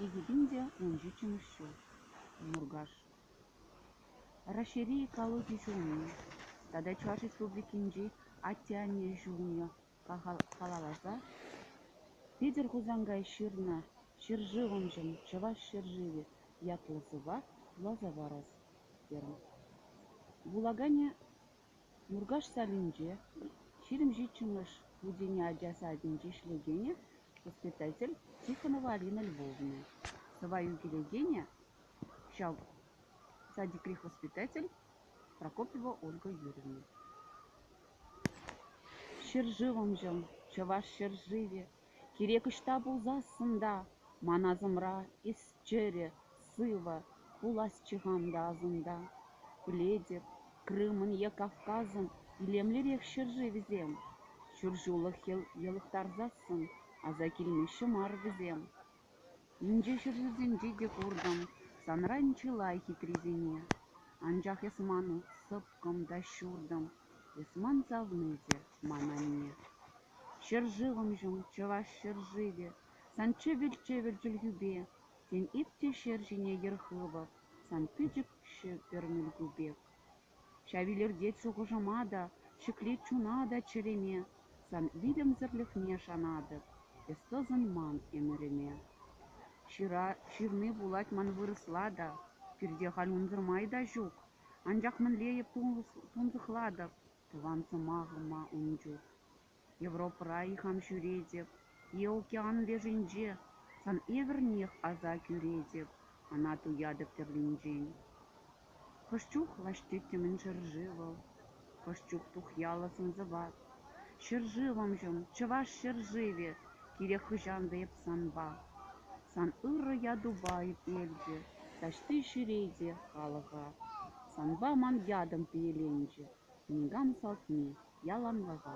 Икӗ те ун ҫиччӗмӗш ҫул, Муркаш. Раҫҫейри экологи ҫулне тата Чӑваш Республикинчи атте-анне ҫулне халалласа Питӗр Хусанкай ҫырнӑ «Ҫӗршывӑмшӑн чӑваш ҫӗршывӗ» ятлӑ сӑвва вуласа парас терӗм. Вулаканӗ Муркаш салинче ҫирӗм ҫиччӗмӗш хутене ача садӗнче ӗҫлекенӗ, воспитатель Тихонова Алина Львовна, сӑвва ӳкелекенӗ, ҫав садикри воспитатель Прокопьева Ольга Юрьевна. Ҫӗршывӑмҫӑм, чӑваш ҫӗршывӗ, кирек ӑҫта пулсассӑн та ман асӑмра эс чӗрӗ, сывӑ, пуласчӗ-хан та асӑнта. Пӗлетӗп, Крымӑн е Кавказӑн илемлӗрех ҫӗршывӗсем. Ҫур ҫуллӑх йӑлӑхтарсассӑн аса килмеҫҫӗ мар вӗсем. Инҫе ҫӗршывсенче те куртӑм санран чылай хитрисене, анчах эс ман сӑпкӑм та ҫуртӑм, эс ман савни те ман анне. Ҫӗршывӑмҫӑм, чӑваш ҫӗршывӗ, сан чӗвӗр-чӗвӗр чӗлхӳпе, сен ик те ҫӗр ҫине йӗр хывӑп, сан пӗчӗк ҫӗпӗр милку пек. Ҫав илӗртет шухӑшӑма та, ҫӗклет чуна та чӗреме, Сан вилӗмсӗрлӗхне шанатӑп, эс тӑсӑнман ӗмӗрӗме. Ҫыра ҫырни пулать ман вырӑсла та, Пирте халь унсӑр май та ҫук, Анчах мӗнле эп тунсӑхлатӑп тӑван сӑмахӑма ун чух. Европӑра ихан ҫӳретӗп е океан лешӗнче, сан евӗрнех аса кӳретӗп, ӑна туятӑп тӗрлинчен. Хӑш чух лаҫ тӗттӗмӗн ҫӗршывӑл, хӑш чух тухьяллӑ сӑн-сӑпат. Ҫӗршывӑмҫӑм, чӑваш ҫӗршывӗ, кирек хӑҫан та эп санпа. Сан ырӑ ятупа эпелчӗ, таҫти ҫӗре те халӑха. Санпа ман ятӑм пиеленчӗ, никам салтми. Яланлӑха.